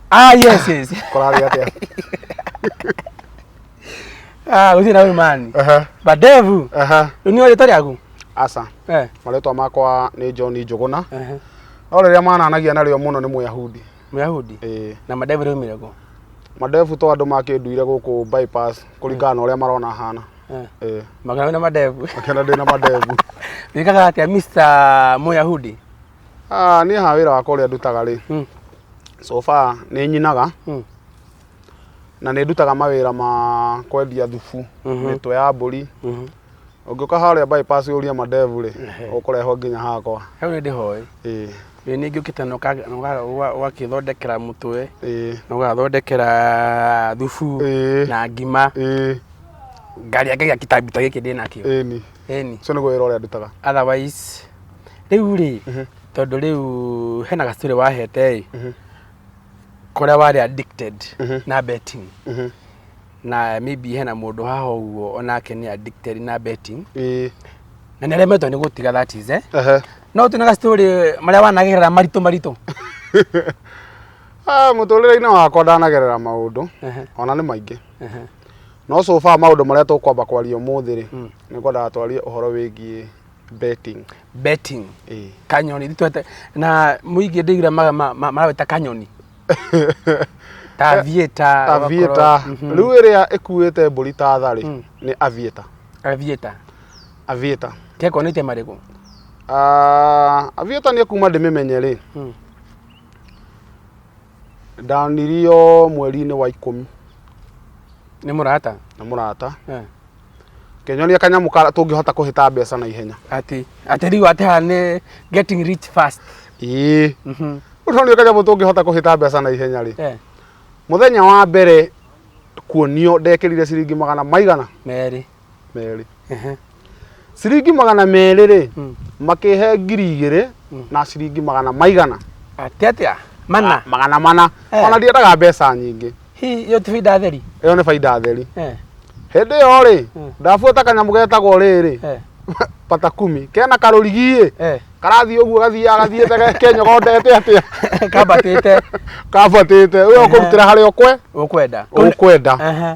ah yes yes kũrarĩ atĩa ah usi na imani Ehe, badevu ehe. ni wale tari yangu aca eh marĩtwa makwa nĩ john njũgũna eh no rĩrĩa mananagia narĩo mũno nĩ mũyahudi myahudi Ĩĩ. na madevu ni mirego madebu to andũ makĩnduire gũkũ bypass kũringana na ũrĩa marona hana eh Ĩĩ. magana na madevu makĩenda ndĩ na madebu nikaga atia mr myahudi Ah, niĩ ha wĩra wakwa ũrĩa ndutaga rĩ Mm. so far nĩ nyinaga Mm. na nĩ ndutaga mawĩra ma kwendia thubu Mhm. mĩtwe ya mbũri Mhm. ũngĩũka harĩa bypass ũrie mandevu rĩ Ehe. ũkũrehwo nginya hakwa Hau nĩ ndĩhoĩ. Ĩĩ, Ĩ ningĩ ũkĩte na ũka- na ũka- ũga- ũgakĩthondekera mũtwe ĩĩ, na ũgathondekera thubu ĩĩ, na ngima ĩĩ, ngarĩa ngagĩa kĩtambi ta gĩkĩ ndĩ nakĩo. ĩĩ ni Ĩni. ũcio nĩguo wĩra ũrĩa ndutaga Otherwise, rĩu rĩ, Mhm. tondũ rĩu hena gaciturĩ wahete ĩ, Mhm. kũrĩa warĩ addicted Mhm. na betting. Mhm. Na maybe hena mũndũ haha ũguo onake nĩ addicted na betting. Ĩĩ. Na nĩ aremetwo nĩ gũtiga that is, eh? Ehe. No ũtue na gaciturĩ marĩa wanagerera maritũ maritũ. Ah, mũtũrĩre-inĩ wakwa ndanagerera maũndũ Ehe, ona nĩ maingĩ ehe. no so far maũndũ marĩa tũkwamba kwaria ũmũthĩ rĩ Mm. nĩ kwendaga twarie ũhoro wĩgiĩ betting betting Ĩĩ. kanyoni thitwete na mũingĩ ndĩgira ma- ma- ma- marawĩta kanyoni tavieta avieta rĩu ĩrĩa ĩkuĩte mbũri ta tha rĩ Mm. nĩ avieta avieta avieta keko nĩte marĩkũ Ah, avieta nĩ kuma ndĩmĩmenye rĩ Mm. ndanirio mweri-inĩ wa ikũmi nĩ mũrata na mũrata Eh. kenyonia kanyamũ kara tũngĩhota kũhĩta mbeca na ihenya ati ati riu ati haha nĩ getting rich fast ĩĩ Mhm. ũtonio kanyamũ tũngĩhota kũhĩta mbeca na ihenya rĩ Eh, mũthenya wa mbere kuonio ndekĩrire ciringi magana maigana merĩ merĩ Ehe. ciringi magana merĩ rĩ Mm. makĩhe ngiri igĩrĩ na ciringi magana maigana Atĩ atĩa? Mana. magana mana Eh. ona ndiendaga mbeca nyingĩ Hi, hiyo ti faida theri. ĩyo nĩ baida theri Eh. hĩndĩ ĩyo rĩ Mm. ndabuata kanyamũ getagwo rĩrĩ Eh. pata kumi kena karũrigiĩ Eh. karathiĩ ũguo gathiaga gathiĩte kenyogondete atĩa Kambatĩte kambatĩte ũyo kũrutĩra harĩa ũkwe ũkwenda. ũkwenda Ehe.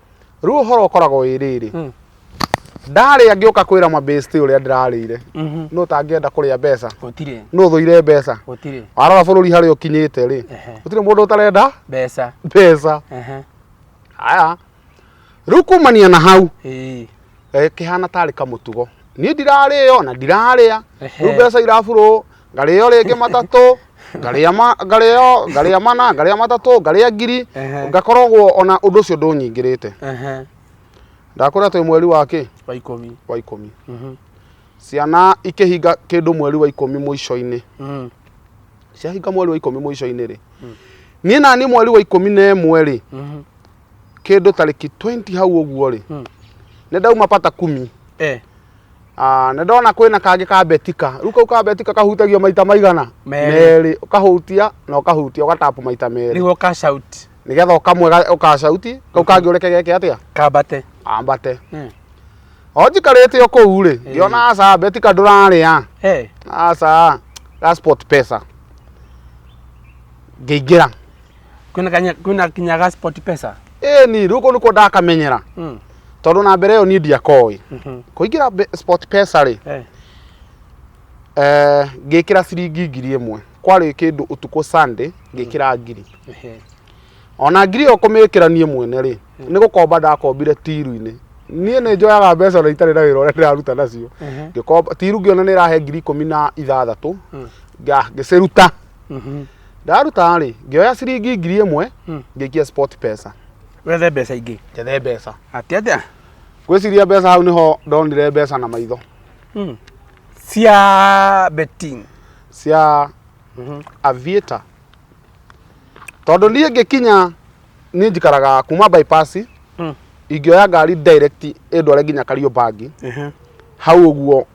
rĩu ũhoro ũkoragwo wĩ rĩrĩ Mm. ndarĩa ngĩũka kwĩra mabĩsti ũrĩa ndĩrarĩire Mhm. nũ ũtangĩenda kũrĩa mbeca gũtirĩ nũ ũthũire mbeca gũtirĩ warora bũrũri harĩa ũkinyĩte rĩ Ehe. gũtirĩ mũndũ ũtarenda mbeca mbeca Ehe. aya rĩu kumania na hau Ĩĩ. eh, kĩhana tarĩ kamũtugo niĩ ndirarĩo na ndirarĩa Ehe. rĩu mbeca irabũrwo ngarĩo rĩngĩ matatũ ngarĩa ma ngarĩo ngarĩa mana ngarĩa matatũ ngarĩa ngiri Ehe. ngakoragwo ona ũndũ ũcio ndũnyingĩrĩte Ehe. ndakwĩra twĩ mweri wa kĩ wa ikũmi wa ikũmi Mhm. ciana ikĩhinga kĩndũ mweri wa ikũmi mũico-inĩ Mhm. ciahinga mweri wa ikũmi mũico-inĩ rĩ niĩ naniĩ mweri wa ikũmi na ĩmwe rĩ Mhm. kĩndũ tarĩki 20 hau ũguo rĩ Hmm. nĩ ndauma pata kumi Eh, Ah, nĩ ndona kwĩna kangĩ ka betika rĩu kau ka betika kahutagio maita maigana Merĩ. merĩ ũkahutia na ũkahutia ũgatapu maita merĩ nĩguo ka shout nĩgetha ũkamwe ga- ũkacauti kau kangĩ ũreke geke atĩa kambate ambate Mm. o njikarĩte o kũu rĩ ngĩona aca betika ndũrarĩa Eh, aca gasport pesa ngĩingĩra kwĩna kanya- kwĩna kinyaga sport pesa ĩ ni rĩu kũu nĩkuo ndakamenyera Mm, tondũ na mbere ĩyo niĩ ndiakoĩ mhm, kũingĩra mbe- sport pesa rĩ eh, eh, ngĩkĩra ciringi ngiri ĩmwe kwarĩ kĩndũ ũtukũ sunday ngĩkĩra ngiri ehe, ona ngiri ĩyo kũmĩkĩra niĩ mwene rĩ nĩ gũkomba ndakombire tiru-inĩ niĩ nĩ njoyaga mbeca na itarĩ na wĩra ũrĩa ndĩraruta nacio ehe, ngĩkomba tiru ngĩona nĩ ĩrahe ngiri ikũmi na ithathatũ Mm. nga- ngĩciruta Mhm. ndaruta rĩ ngĩoya ciringi ngiri ĩmwe Mm. ngĩikia sport pesa wethe mbeca ingĩ njethe mbeca atĩ atĩa gwĩciria mbeca hau nĩho ndonire mbeca na maitho Mm. cia betting cia Mhm. aviator tondũ niĩ ngĩkinya niĩ njikaraga kuma bypass Mm. ingĩoya ngari direct ĩndware nginya kariũmbangi Mhm. hau ũguo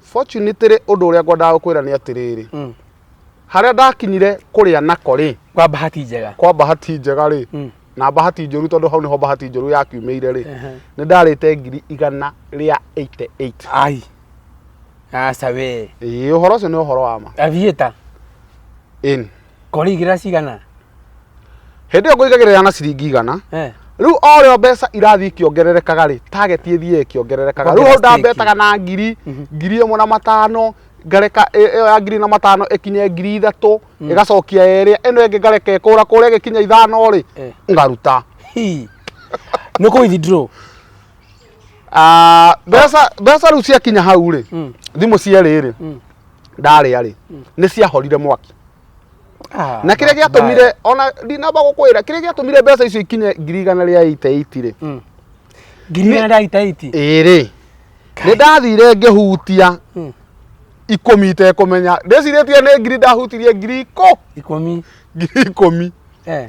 Fortune tĩrĩ ũndũ ũrĩa ngwendaga gũkwĩra nĩ atĩrĩrĩ Mm. harĩa ndakinyire kũrĩa nako rĩ Kwa bahati njega. kwa bahati njega rĩ Mm. na bahati njũru tondũ hau nĩho bahati njũru yakiumĩire rĩ Ehe. nĩ ndarĩte ngiri igana rĩa 88 Ai. Aca we. Ĩĩ, ũhoro ũcio nĩ ũhoro wa ma Avieta. Ĩni. Ngorĩigĩra cigana? Hĩndĩ ĩyo ngũigagĩrĩra na ciringi igana. Eh. Rĩu o rĩo mbeca irathiĩ ikĩongererekaga rĩ, target ĩthiĩ ĩkĩongererekaga. Rĩu hau ndambetaga na ngiri, mhm. ngiri ĩmwe na matano, ngareka ĩyo ya ngiri na matano ĩkinye ngiri ithatũ, mm. ĩgacokia ĩrĩa, ĩno ĩngĩ ngareka ĩkũra kũrĩa ĩgĩkinya ithano rĩ, eh. ngaruta. Nĩ kũ withdraw? Ah, mbeca rĩu ciakinya hau rĩ, mm. thimũ cierĩ rĩ, mm. ndarĩa-rĩ nĩ ciahorire mwaki Ah, na kĩrĩa gĩatũmire ona ndinamba gũkwĩra kĩrĩa gĩatũmire mbeca icio ikinye ngiri igana rĩa iteiti rĩ Mm. ngiri igana rĩa itaiti ĩrĩ nĩ ndathire ngĩhutia Mm. ikũmi itekũmenya ndĩcirĩtie nĩ ngiri ndahutirie ngiri ikũ ikũmi ngiri ikũmi eh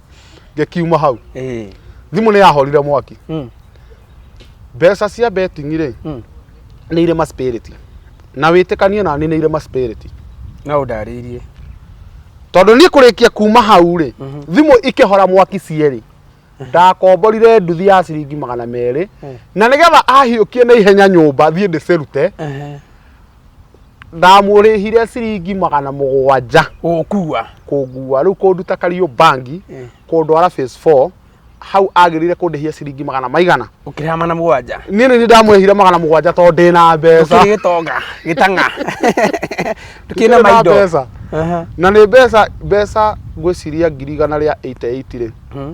ngĩkiuma hau Eh. thimũ nĩ yahorire mwaki Mm. mbeca cia betting rĩ Mm. nĩ irĩ ma spirit na wĩtĩkanie nani nĩ irĩ ma spirit No ndarĩirie. tondũ niĩ kũrĩkia kuma hau rĩ Mhm. thimũ ikĩhora mwaki cierĩ ndakomborire nduthi ya ciringi magana merĩ Mm. na nĩgetha ahiũkie na ihenya nyũmba thiĩ ndĩcirute Ehe. ndamũrĩhire ciringi magana mũgwanja gũkua kũngua rĩu kũnduta kariũ bangi Eh. kũndwara phase 4 hau agĩrĩire kũndĩhia ciringi magana maigana ũkĩrĩha mana mũgwanja niĩ nĩ ndamũrĩhire magana mũgwanja tondũ ndĩ na mbeca tukiri gitonga gitanga tukiri na Ndĩ na maindo mbeca. Aha. na nĩ mbeca mbeca ngwĩciria ngiri igana rĩa 88 rĩ Mhm.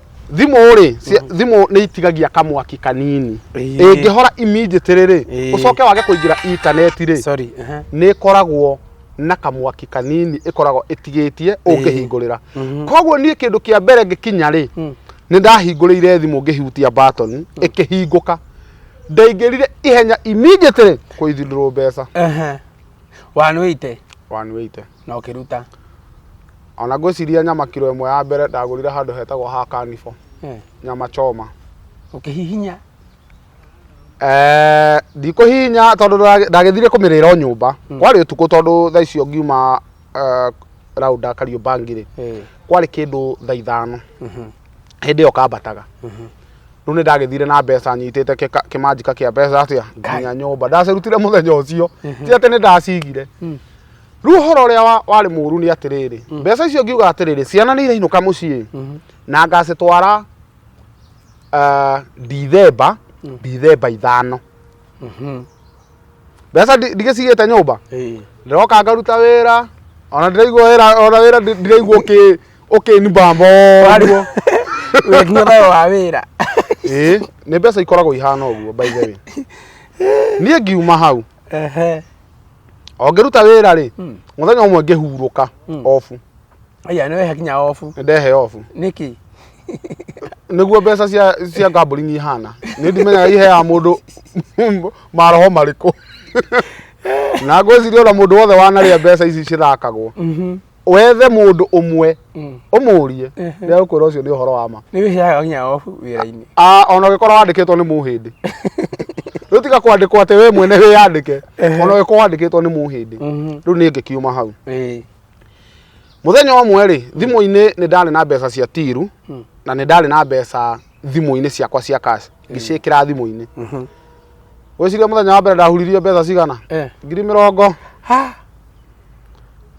thimũ rĩ cia- thimũ nĩ itigagia kamwaki kanini Ĩĩ. ĩngĩhora immediately rĩ Ĩĩ. ũcoke wage kũingĩra intaneti rĩ sorry aha. nä ĩkoragwo na kamwaki kanini ĩkoragwo ĩtigĩtie ũngĩhingũrĩra koguo niĩ kĩndũ kĩa mbere ngĩkinya rĩ nĩ ndahingũrĩire thimũ ngĩhutia batoni ĩkĩhingũka ndaingĩrire ihenya immediately kũithindũrwo mbeca Aha. 180 wanwĩite na ũkĩruta ona ngwĩciria nyama kiro ĩmwe ya mbere ndagũrire handũ hetagwo ha kanibũ eh. nyama choma ũkĩhihinya eh, ndikũhihinya tondũ ndagĩthire kũmĩrĩra o nyũmba hmm. kwarĩ ũtukũ tondũ thaa icio ngiuma eh, raunda kariũmba ngirĩ eh. kwarĩ kĩndũ thaa ithano mhm. hĩndĩ ĩyo kambataga mhm. rä u nä ndagä thire na mbeca nyitä te kä manjika kä a mbeca atä a nginya nyå mba ndacä rutire må thenya å cio ti atä nä ndacigire hmm. rĩu ũhoro ũrĩa wa- warĩ mũru nĩ atĩrĩrĩ mbeca icio ngiuga atĩrĩrĩ ciana nĩ irainũka mũciĩ na ngacitwara ah, ndithemba ndithemba ithano mbeca ndi- ndigĩcigĩte nyũmba Eh. ndiroka ngaruta wĩra ona ndiraigua wĩra ona wĩra ndi- ndiraigua ũkĩ- ũkĩnibamba ũguo Wĩkina nayo wa wĩra. Ĩĩ, nĩ mbeca ikoragwo ihana ũguo by the way niĩ ngiuma hau Ehe. o ngĩruta wĩra rĩ Mm. mũthenya ũmwe ngĩhurũka Mm. obu aya nä wehe kinya obu nĩ ndehe obu nä kä nĩguo mbeca cia cia ngambũringi ihana nĩ ndimenyaga iheaga mũndũ maroho marĩkũ na ngwĩciria ona mũndũ wothe wanarĩa mbeca ici cithakagwo wethe mũndũ ũmwe Mm. ũmũrie Ehe. nĩ agũkwĩra ũcio nĩ ũhoro wa ma nä wä heaga nginya obu wä ra-inä Ah, ona ũgĩkorwo wandĩkĩtwo nĩ mũhĩndĩ rĩu tiga kwandĩkwo atĩ we mwene wĩyandĩke Ehe. ona ũgĩkorwo wandĩkĩtwo nĩ mũhĩndĩ rĩu nĩ ngĩkiuma hau mũthenya ũmwe rĩ thimũ-inĩ nĩ ndarĩ na mbeca cia tiru Mm. na nĩ ndarĩ na mbeca thimũ-inĩ ciakwa cia cash ngĩciĩkĩra thimũ-inĩ wĩciria mũthenya wa mbere ndahuririo mbeca cigana Eh. ngiri mĩrongo Ha!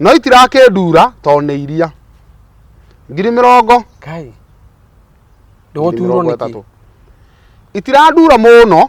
no itirakĩndura tondũ nĩ iria ngiri mĩrongo Kai. ngiri Ndũgũturwo mĩrongo nĩkĩ? ĩtatũ itirandura mũno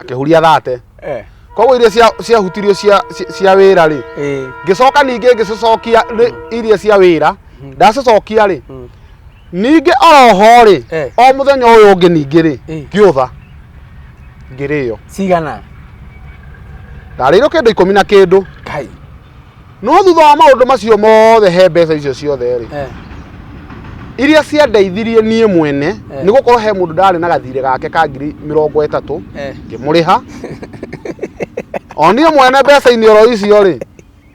akĩhuria thate Eh. koguo iria cia- ciahutirio cia- cia- cia wĩra rĩ Eh. ngĩcoka ningĩ ngĩcicokia rĩ- iria cia wĩra ndacicokia rĩ Mm. ningĩ oroho rĩ Eh. o mũthenya ũyũ ũngĩ ningĩ rĩ Eh. ngĩũtha ngĩrĩo Cigana. ndarĩirwo kĩndũ ikũmi na kĩndũ Kai. no thutha wa maũndũ macio mothe he mbeca icio ciothe rĩ eh, iria ciandeithirie niĩ mwene Eh. nĩ gũkorwo he mũndũ ndarĩ na gathirĩ gake ka ngiri mĩrongo ĩtatũ eh. ngĩmũrĩha o niĩ mwene mbeca-inĩ oro icio rĩ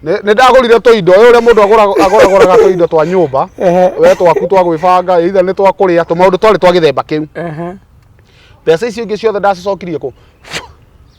nĩ nĩ ndagũrire tũindo ũyũ ũrĩa mũndũ agũra- agũragũraga tũindo twa nyũmba Ehe. we twaku twa gwĩbanga either nĩ twa kũrĩa tũmaũndũ twarĩ twa gĩthemba kĩu Ehe. mbeca icio ingĩ ciothe ndacicokirie kũ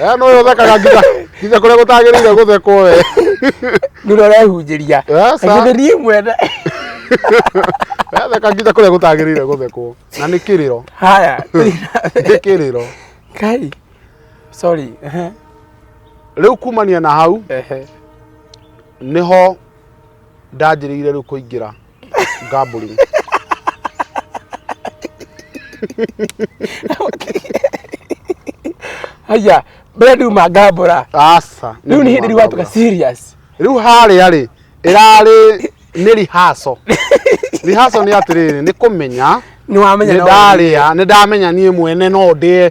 Eh, no yo thakaga nginya nginya kuria gutagirire guthekwo we ndura urehunjiria Eh, sa- nginya niĩ mwene Eh, theka nginya kuria gutagirire guthekwo na nĩ kiriro haya nĩ kiriro kai sorry ehe, riu kumania na hau ehe. niho ndanjĩrĩire rĩu kũingĩra gambling haya mbere nduma ngambũra aca rĩu nĩ hĩndĩ rĩu watuka serious rĩu harĩa rĩ ĩrarĩ nĩ rihaco rihaco nĩ atĩrĩrĩ nĩ kũmenya nĩ wamenya nĩ no- ndarĩa nĩ ndamenya niĩ mwene no ndĩe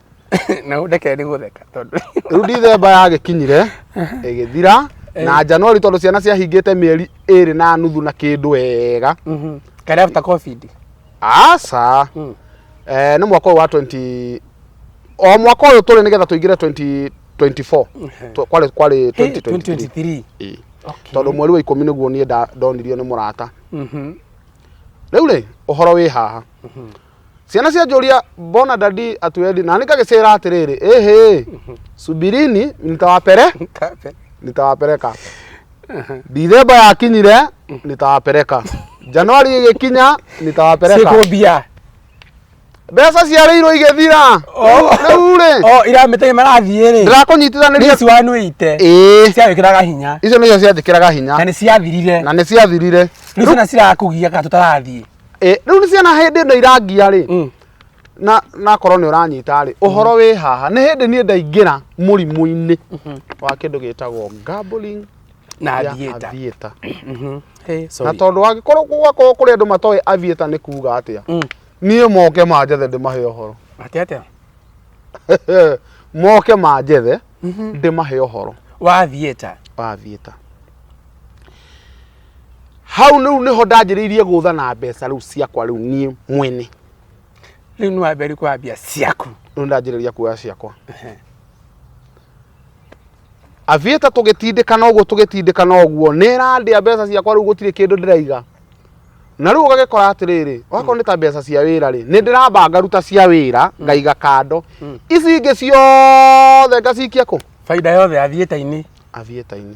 na ndeke nĩ gũtheka tondũ rĩu ndithemba yagĩkinyire ĩgĩthira na njanuari tondũ ciana ciahingĩte mĩeri ĩrĩ na nuthu na kĩndũ wega Mhm. kare after covid aca Mm. eh, nĩ mwaka ũyũ wa 20 o mwaka ũyũ tũrĩ nĩgetha tũingĩre 2024 Tũ- kwarĩ kwarĩ Hey, 2023 2023 Ĩĩ. Okay. tondũ mweri wa ikũmi nĩguo niĩ nda- ndonirio nĩ mũrata Mhm. rĩu rĩ ũhoro wĩ haha ciana cianjũria mbona dadi atuendi na nikagicira atiriri ehe subirini nitawapere Kape. nitawapeleka dithemba yakinyire nitawapeleka januari igikinya nitawapeleka Siko bia. mbeca ciarĩirwo igĩthira Oh. rĩu rĩ Oh, ira mitenye marathiĩ rĩ. ndĩrakũnyitithaniria This one wĩite. ĩĩ Ciagĩkĩraga hinya. icio nĩcio cianjĩkĩraga hinya Na nĩ ciathirire. na nĩ ciathirire Rĩu ciana cirakũgia kana tũtarathiĩ. Eh, rĩu nĩ ciana hĩndĩ ĩno irangia rĩ Mm. na nakorwo nĩ ũranyita rĩ ũhoro wĩ haha nĩ hĩndĩ niĩ ndaingĩra mũrimũ-inĩ wa kĩndũ gĩtagwo gambling na ya thieta aviator Mhm. Hey, na sorry. tondũ angĩkorwo gwakorwo kũrĩ andũ matoĩ aviator nĩ kuga atĩa Mm. niĩ moke manjethe ndĩmahe ũhoro Atĩa, atĩa? moke manjethe ndĩmahe ũhoro wa thieta wa aviator hau rĩu nĩho ndanjĩrĩirie gũtha na mbeca rĩu ciakwa rĩu niĩ mwene rĩu nĩ wambere kwambia ciaku rĩu ndanjĩrĩria kuoya ciakwa avieta tũgĩtindĩkana ũguo tũgĩtindĩkana ũguo nĩ ĩrandĩa mbeca ciakwa rĩu gũtirĩ kĩndũ ndĩraiga na rĩu ũgagĩkora atĩrĩrĩ wakorwo nĩ ta mbeca cia wĩra rĩ nĩ ndĩramba ngaruta cia wĩra ngaiga kando ici ingĩ ciothe ngacikia kũ baida yothe athiĩte-inĩ avieta-inĩ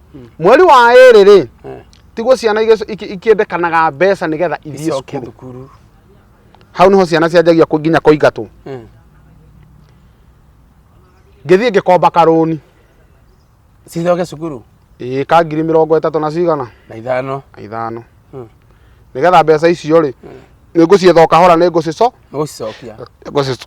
mweri wa ĩrĩ rĩ Eh. tiguo ciana igĩc- iki- ikĩendekanaga mbeca nĩgetha ithiĩ icoke cukuru thukuru hau nĩho ciana cianjagia kũ- nginya kũingatwo Eh. ngĩthiĩ ngĩkomba karũni cicoke cukuru ĩĩ ka ngiri mĩrongo ĩtatũ na cigana na ithano na ithano Hmm. nĩgetha mbeca icio rĩ nĩngũcietha o kahora nĩngũcico nĩgũcicokia nĩngũcico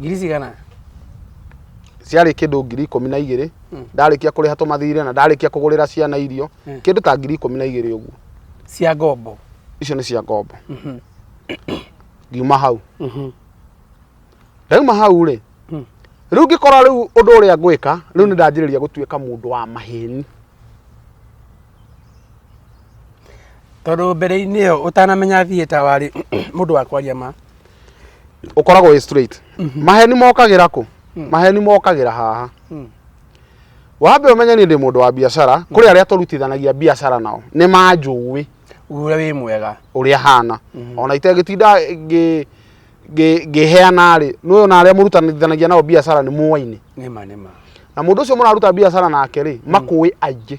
ngiri cigana ciarĩ kĩndũ ngiri ikũmi na igĩrĩ hmm. ndarĩkia kũrĩha tũmathirĩ na ndarĩkia kũgũrĩra ciana irio hmm. kĩndũ ta ngiri ikũmi na igĩrĩ ũguo cia ngombo icio nĩ cia ngombo mhm. ngiuma hau mhm. ndauma hau rĩ hmm. rĩu ngĩkora rĩu ũndũ ũrĩa ngwĩka rĩu nĩ ndanjĩrĩria gũtuĩka mũndũ wa maheni tondå mbere-inä ä yo å tanamenya thiä ta warä må ndå wa kwaria ma ũkoragwo wĩ straight maheni mokagĩra kũ maheni mokagĩra haha wambe ũmenye niĩ ndĩ mũndũ wa biacara kũrĩ arĩa tũrutithanagia biacara nao nĩ manjũĩ ũrĩa wĩ mwega ũrĩa hana ona itegĩtinda ngĩ- ngĩ- ngĩheana rĩ nũyũ na arĩa mũrutanithanagia nao biacara nĩ mũwainĩ nĩma nĩma na mũndũ ũcio mũraruta biacara nake rĩ makũĩ aingĩ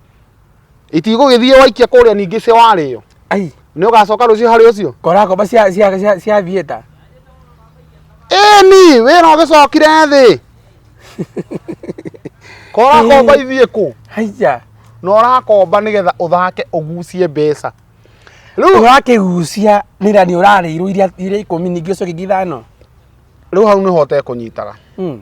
itigũgĩthiĩ waikia kũrĩa ningĩ cia warĩo ai nĩ ũgacoka rũciũ harĩ ũcio korakomba cia cia cia cia thieta ĩni wĩra ũgĩcokire thĩ korakomba ithiĩ kũ haiya na ũrakomba nĩgetha ũthake ũgucie mbeca rĩu ũrakĩgucia nĩra nĩ ũrarĩirwo iria iria ikũmi ningĩ ũcoke ingĩ ithano rĩu hau nĩho ũtekũnyitaga Mm.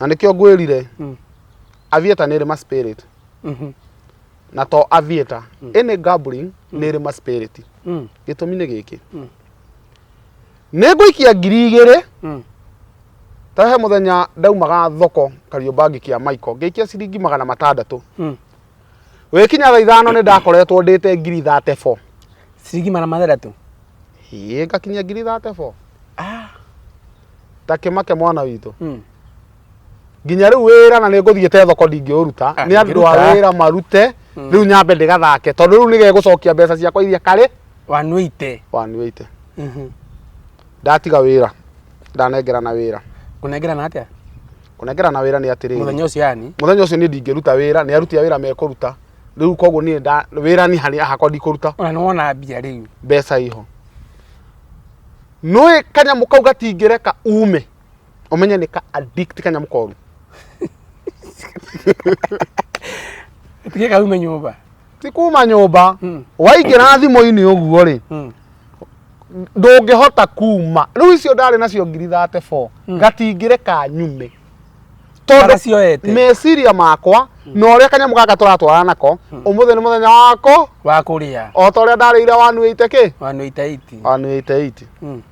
na nĩkĩo ngwĩrire Mm. avieta nĩ ĩrĩ ma spirit Mhm. na to avieta ĩnĩ gambling nĩ ĩrĩ ma spirit Mm. gĩtũmi nĩ gĩkĩ Mm. nĩ ngũikia ngiri igĩrĩ Mm. tahe mũthenya ndaumaga thoko kariũmba ngĩkia maiko ngĩikia ciringi magana matandatũ Mm. wĩkinya thaa ithano nĩ ndakoretwo ndĩte ngiri thate bo ciringi magana mathathatu ĩĩ ngakinyia ngiri thate bo Ah, ta kĩmake mwana witũ mm. nginya rĩu wĩra na nĩ ngũthiĩte thoko ndingĩũruta Ah, nĩ andũ a ndingĩruta. wĩra marute Mm. rĩu nyambe ndĩgathake tondũ rĩu nĩgegũcokia mbeca ciakwa iria karĩ wanuite wanwĩite Mhm. ndatiga wĩra ndanengerana wĩra kũnengerana atĩa kũnengera na wĩra nĩ atĩrĩrĩ mũthenya ũcio yani mũthenya ũcio niĩ ndingĩruta wĩra nĩ aruti a wĩra mekũruta rĩu koguo niĩ nda- wĩra ni harĩ hakwa ndikũruta ona nĩ wona mbia rĩu mbeca iho nũĩ kanyamũ kau gatingĩreka ume ũmenye nĩ ka addict kanyamũ koru tige kaume nyũmba ti kuma nyũmba Mm. waingĩra thimũ-inĩ ũguo rĩ Mm. ndũngĩhota kuma rĩu icio ndarĩ nacio ngiri thate bo Mm. ngatingĩreka nyume Kana cioete. meciria makwa na ũrĩa kanyamũ gaka tũratwarana nako ũmũthĩ nĩ mũthenya wako wa kũrĩa o ta ũrĩa ndarĩire wanuĩte kĩ wanå itaiti wanuĩte iti Mm.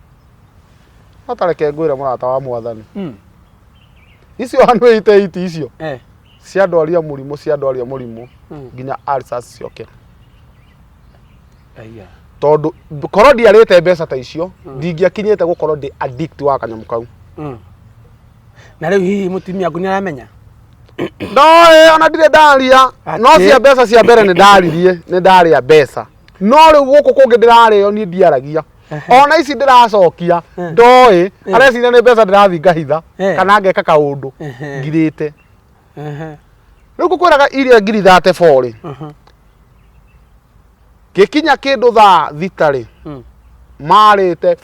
no tareke ngwĩre mũrata wa mwathani Mm. icio wanuĩte iti icio Eh. cia ndwaria mũrimũ cia ndwaria mũrimũ Mm. nginya ulcers ciokĩra Aiya. tondũ korwo ndiarĩte mbeca ta icio ndingĩakinyĩte gũkorwo ndĩ addict wa kanyamũ kau Mm. na rĩu hihi mũtumia aku nĩ aramenya no ĩ, ona ndirĩ ndaria Atĩ? no cia mbeca cia mbere nĩ ndaririe nĩ ndarĩa mbeca no rĩu gũkũ kũngĩ ndĩrarĩo niĩ ndiaragia Ehe. ona ici ndĩracokia Eh. ndoĩ Eh. areciria nĩ mbeca ndĩrathiĩ ngahitha Eh. kana ngeka kaũndũ Ehe. ngirĩte Ehe. rĩu ngũkwĩraga iria ngiri thate borĩ Aha. gĩkinya kĩndũ thaa thitarĩ Mm. marĩte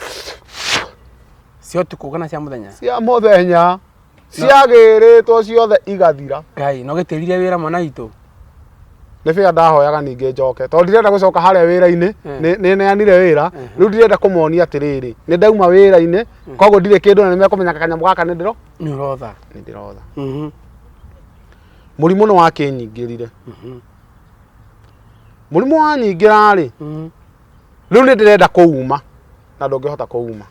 cia ũtukũ kana cia mũthenya cia mũthenya ciagĩrĩtwo ciothe igathira ngai no gĩtĩrire wĩra mwana hitũ nĩ bĩa ndahoyaga ningĩ njoke tondũ ndirenda gũcoka harĩa wĩra-inĩ Mm. nĩ- nĩ neanire wĩra rĩu ndirenda kũmonia atĩrĩrĩ nĩ ndauma wĩra-inĩ koguo ndirĩ kĩndũ na nĩ mekũmenya kanyamũ gaka nĩ ndĩro nĩ ũrotha nĩ ndĩrotha Mhm, mũrimũ nĩ wakĩnyingĩrire mhm, mũrimũ wanyingĩra rĩ mhm, rĩu nĩ ndĩrenda kũuma na ndũngĩhota kũuma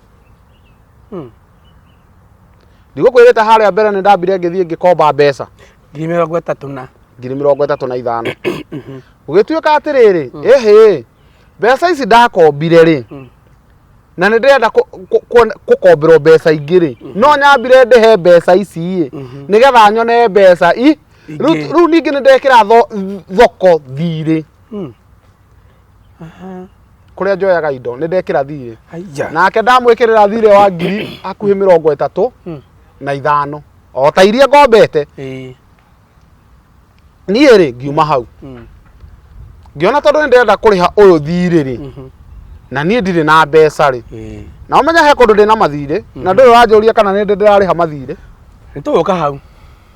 mhm. ndigũkwĩrĩte harĩa mbere nĩ ndambire ngĩthiĩ ngĩkomba mbeca ngiri mĩrongo ĩtatũ na ngiri mĩrongo ĩtatũ na ithano gũgĩtuĩka atĩrĩrĩ ĩhĩ mbeca ici ndakombire rĩ na nĩ ndĩrenda kũ- kũ- kuona- gũkomberwo mbeca ingĩ rĩ no nyambire ndĩhe mbeca ici ĩ nĩgetha nyone mbeca i Ingĩ. rĩu rĩu ningĩ nĩ ndekĩra tho- thoko thirĩ kũrĩa njoyaga indo nĩ ndekĩra thirĩ Aija. nake ndamwĩkĩrĩra thirĩ wa ngiri hakuhĩ mĩrongo ĩtatũ Mm. na ithano o ta iria ngombete Ĩĩ. niĩ rĩ ngiuma hau Mm. ngĩona tondũ nĩ ndĩrenda kũrĩha ũyũ thirĩ rĩ Mhm. na niĩ ndirĩ na mbeca rĩ Ĩĩ. na ũmenya he kũndũ ndĩ na mathirĩ na ndũyũ wanjũria kana nĩ ndĩ ndĩrarĩha mathirĩ Nĩ tũgũka hau.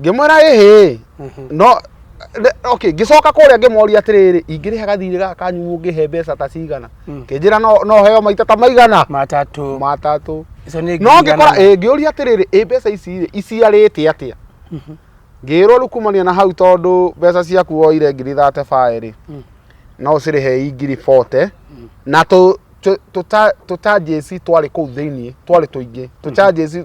ngĩmwĩra ĩhĩ Mhm. no re- okay ngĩcoka kũrĩa ngĩmoria atĩrĩrĩ ingĩrĩhaga thiirĩ gaka kanyu mũngĩhe mbeca ta cigana Mm. kĩnjĩra no no heo maita ta maigana matatũ matatũ icio nĩ no ngiri ngĩkora igana ĩ ngĩũria atĩrĩrĩ ĩ mbeca ici rĩ iciarĩte atĩa Mhm. ngĩrwo rĩu kumania na hau tondũ mbeca ciaku woire ngiri thate bae rĩ Mm. no ũcirĩhe i ngiri bote na tũ- tũ- tũta- tũtanjĩci twarĩ kũu thĩinĩ twarĩ tũingĩ tũtanjĩci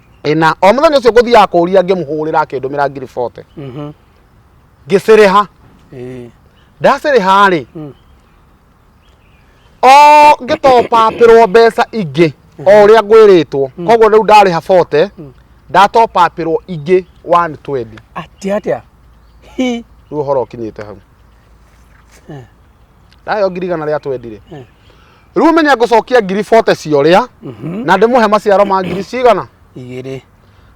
ĩna o mũthenya ũcio ngũthiaga kũria ngĩmũhũrĩra akĩndũmĩra ngiri bote Mhm. ngĩcĩrĩha Ĩĩ. ndacĩrĩha rĩ Mm. o ngĩtopapĩrwo mbeca ingĩ o ũrĩa ngwĩrĩtwo koguo rĩu ndarĩha bote ndatopapĩrwo ingĩ 120 Atĩa atĩa? Hi. rĩu ũhoro ũkinyĩte hau Eh. ndayo ngiri igana rĩa twendi rĩ Eh. rĩu menya ngũcokia ngiri bote cia ũrĩa Mhm. na ndĩmũhe maciaro ma ngiri cigana igĩrĩ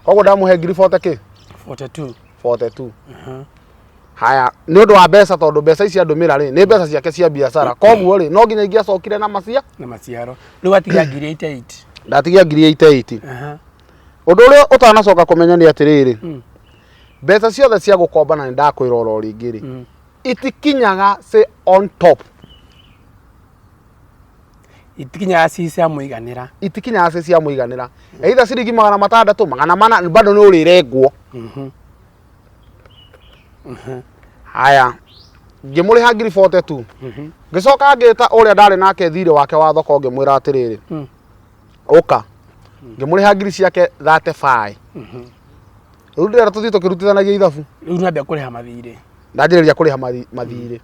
koguo ndamũhe ngiri bote kĩ 42 bote tu Aha. haya nĩ ũndũ wa mbeca tondũ mbeca ici andũmĩra rĩ nĩ mbeca ciake cia biacara koguo rĩ no nginya ingĩacokire na macia na maciaro rĩu atiga ngiri 88 ndatigia ngiri iteiti Aha. ũndũ ũrĩa ũtanacoka kũmenya nĩ atĩrĩrĩ Mm. mbeca ciothe cia gũkomba na nĩ ndakwĩra oro rĩngĩ rĩ Mm. itikinyaga say on top itikinyaga ci cia muiganira itikinyaga ci cia muiganira either ciringi magana matandatu magana mana bado ni urirengwo mhm. mhm. haya ngimuriha ngiri bote tu mhm. ngicoka ngita uria ndari nake thire wake wa thoko ngimwira atiriri mm. uka mm. ngimuriha ngiri ciake 35 riu ndira tuthii tukirutithanagia ithabu riu nambia kuriha mathire ndanjiriria kuriha mathire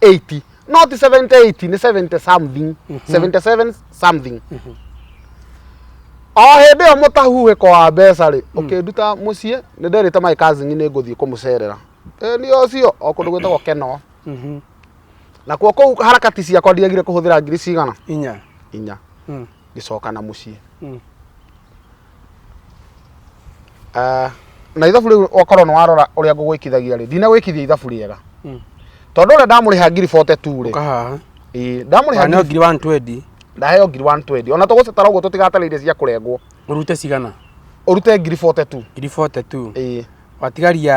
80 not 70 80 ni 70 something 77 something o hĩndĩ ĩyo mũtahuhĩko wa mbeca rĩ ũkĩnduta mũciĩ nĩ nderĩte my cousin nĩ ngũthiĩ kũmũcerera ĩ nĩ ũcio o kũndũ gwĩtagwo kenoo Mhm. nakuo kũu harakati ciakwa ndiagire kũhũthĩra ngiri cigana Inya. inya Mm. ngĩcoka na mũciĩ Mm. Ah, na ithabu rĩu okorwo nĩ warora ũrĩa ngũgwĩkithagia rĩ ndinagwĩkithia ithabu rĩega Mm. tondũ ũrĩa ndamũrĩha ngiri 42 rĩ Kahaha. ĩĩ, ndamũrĩha Kana ngiri- ngiri 120. ndaheo ngiri 120 ona tũgũcitara ũguo tũtigatarĩire cia kũrengwo Ũrute cigana? ũrute ngiri 42 Ngiri 42. ĩĩ Watigaria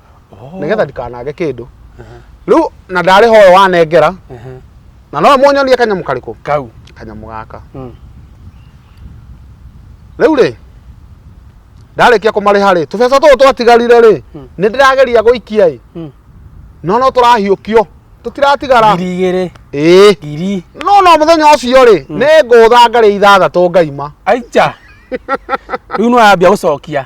Oh. nĩgetha ndikanage kĩndũ rĩu na ndarĩ hoyo wanengera Ehe. na no mũnyonie kanyamũ karĩkũ Kau. kanyamũ gaka Mm. rĩu rĩ ndarĩkia kũmarĩha rĩ tũbeca tũũ twatigarire rĩ Mm. nĩ ndĩrageria gũikia ĩ Mm. no no tũrahiũkio tũtiratigara Ngiri igĩrĩ. ĩĩ Ngiri. no no mũthenya ũcio rĩ nĩ ngũtha ngarĩ ithathatũ ngaima Aija. Rĩu nĩ wambia gũcokia.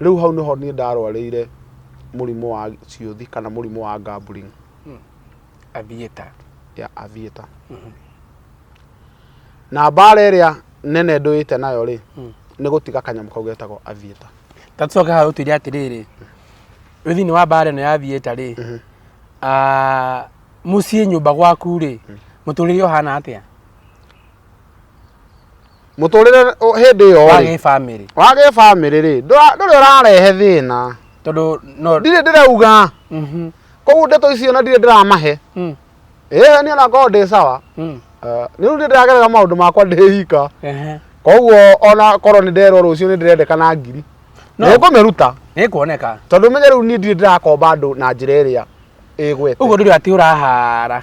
rĩu hau nĩho niĩ ndarwarĩire mũrimũ wa ciũthi kana mũrimũ wa gambling athiĩta ya avieta na mbara ĩrĩa nene ndũĩte nayo rĩ nĩ gũtiga kanyamũ kau getagwo avieta ta tũcoke haha ũtwĩre atĩrĩrĩ wĩ thĩinĩ wa mbaara ĩno ya thieta rĩ ah, mũciĩ nyũmba gwaku rĩ mũtũrĩre ũhana atĩa mũtũrĩre ũ- hĩndĩ ĩyo wa rĩ gĩbamĩrĩ wa gĩbamĩrĩ rĩ ndũra- ndũrĩ ũrarehe thĩna tondũ no ndirĩ ndĩrauga Mhm, koguo ndeto icio na ndirĩ ndĩramahe mm, ĩĩ niĩ nakorwo ndĩ sawa mm, Eh, nĩ rĩu nĩ ndĩragerera maũndũ makwa ndĩ hika ehe. koguo ona korwo nĩ nderwo rũciũ nĩ ndĩrendekana ngiri No. nĩ ngũmĩruta nĩ kuoneka tondũ menye rĩu niĩ ndirĩ ndĩrakomba andũ na njĩra ĩrĩa ĩgwete ũguo ndũrĩ atĩ ũrahara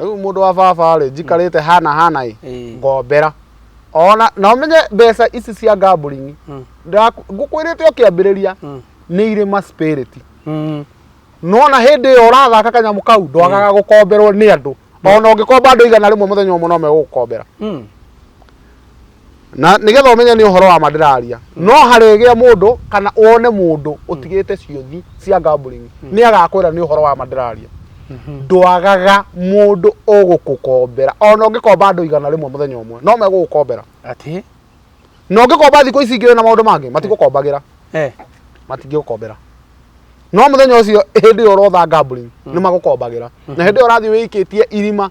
rĩu mũndũ wa baba rĩ njikarĩte hana hana ĩ Ĩĩ. ngombera ona na ũmenye mbeca ici cia gambling Mm. ndaku- ngũkwĩrĩte ũkĩambĩrĩria Mm. nĩ irĩ ma spirit Mm. nona hĩndĩ ĩyo ũrathaka kanyamũ kau ndwagaga gũkomberwo nĩ andũ ona ũngĩkomba andũ igana rĩmwe mũthenya ũmwe no megũgũkombera Mm. na nigetha umenye ni uhoro wa ma ndiraria no haregea mundu kana wone mundu utigite ciothi cia gambling ni agakwira ni uhoro wa ma ndiraria ndwagaga mundu ugukukombera ona ungikomba andu igana rimwe muthenya umwe no megugukombera Ati. na ungikomba thiku ici ingi na maundu mangi matigukombagira Eh. matingĩgũkombera no mũthenya ũcio hĩndĩ ĩyo ũrotha gambling nĩ magũkombagira na hĩndĩ ĩyo ũrathiĩ wĩikĩtie irima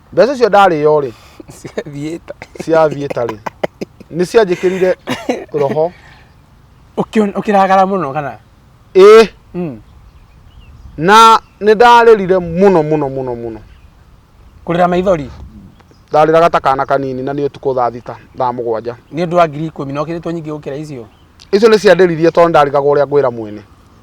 mbeca icio ndarĩo rĩ ciathiĩte ciathiĩ tarĩ nĩ cianjĩkĩrire roho Ũkĩon- ũkĩragara mũno kana ĩ Mm. na nĩ ndarĩrire mũno mũno mũno mũno kũrĩra maithori ndarĩraga ta kana kanini na nĩ ũtukũ thaa thita thaa mũgwanja nĩ ũndũ wa ngiri ikũmi na ũkĩrĩtwo nyingĩ gũkĩra icio icio nĩ ciandĩririe tondũ ndarigagwo ũrĩa ngwĩra mwene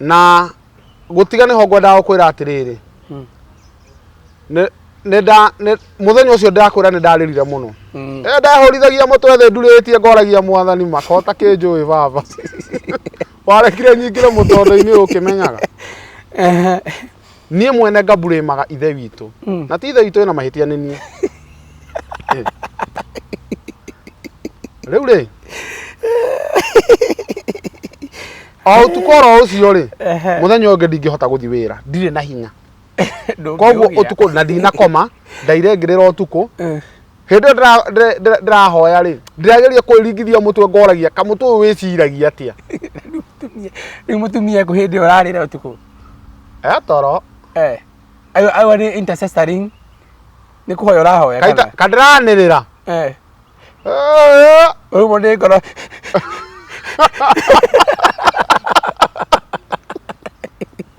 na gũtiga nĩho ngwendaga gũkwĩra atĩrĩrĩ Mm. Nĩ- nĩnda- nĩ- mũthenya ũcio ndakwĩra nĩ ndarĩrire mũno Mm. Eh, ndahũrithagia mũtwe thĩ ndurĩtie ngoragia mwathani makota kĩnjũĩ baba warekire nyingĩre mũtondo-inĩ ũkĩmenyaga Ehe. niĩ mwene ngaburĩmaga ithe witũ Mm. na ti ithe witũ ĩna mahĩtia nĩ niĩ Eh. rĩu rĩ o ũtukũ oro ũcio rĩ Ehe. mũthenya ũngĩ ndingĩhota gũthiĩ wĩra ndirĩ na hinya Ndũngĩũgĩa. koguo ũtukũ na ndinakoma ndaire ngĩrĩra ũtukũ Eh. hĩndĩ ĩyo ndĩrahoya rĩ ndĩrageria kwĩringithia mũtwe ngoragia kamũtwe ũyũ wĩciragia atĩa rĩu mũtumia kũ hĩndĩ ĩyo ũrarĩra ũtukũ e toro eh ayo nĩ intercessoring nĩ kũhoya ũrahoya kana kandiranĩrĩra eh ũrumwo nĩ ngoro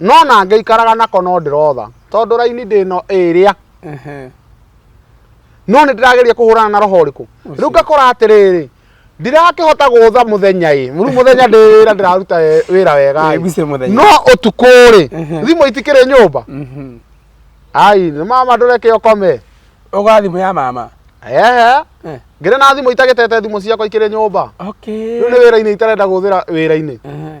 no na ngĩikaraga nako no ndĩrotha tondũ raini ndĩ no ĩrĩa Ehe. no nĩ ndĩrageria kũhũrana na roho ũrĩkũ rĩu ngakora atĩrĩrĩ ndirakĩhota gũtha mũthenya ĩ rĩu mũthenya ndĩ wĩra ndĩraruta we- wĩra wega ĩ. Wĩguce mũthenya. no ũtukũ rĩ Ehe. thimũ itikĩrĩ nyũmba Mhm. ai nĩ mama ndũreke ũkome Ũgora thimũ ya mama. ehe Eh. ngĩrĩ na thimũ itagĩtete thimũ ciakwa ikĩrĩ nyũmba Okay. rĩu nĩ wĩra-inĩ itarenda gũthĩra wĩra-inĩ Ehe.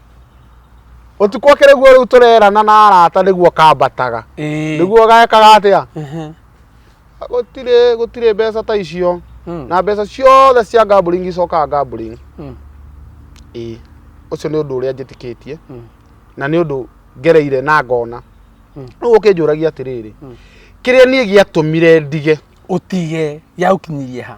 ũtukũ ũkĩ nĩguo rĩu tũrerana na arata nĩguo kambataga Ĩĩ. nĩguo gekaga atĩa Ehe. gũtirĩ gũtirĩ mbeca ta icio Mm. na mbeca ciothe cia gambling icokaga gambling Mm. ĩĩ ũcio nĩ ũndũ ũrĩa njĩtĩkĩtie Mm. na nĩ ũndũ ngereire na ngona Mm. rĩu ũkĩnjũragia atĩrĩrĩ Mm. kĩrĩa niĩ gĩatũmire ndige ũtige yaũkinyirie ha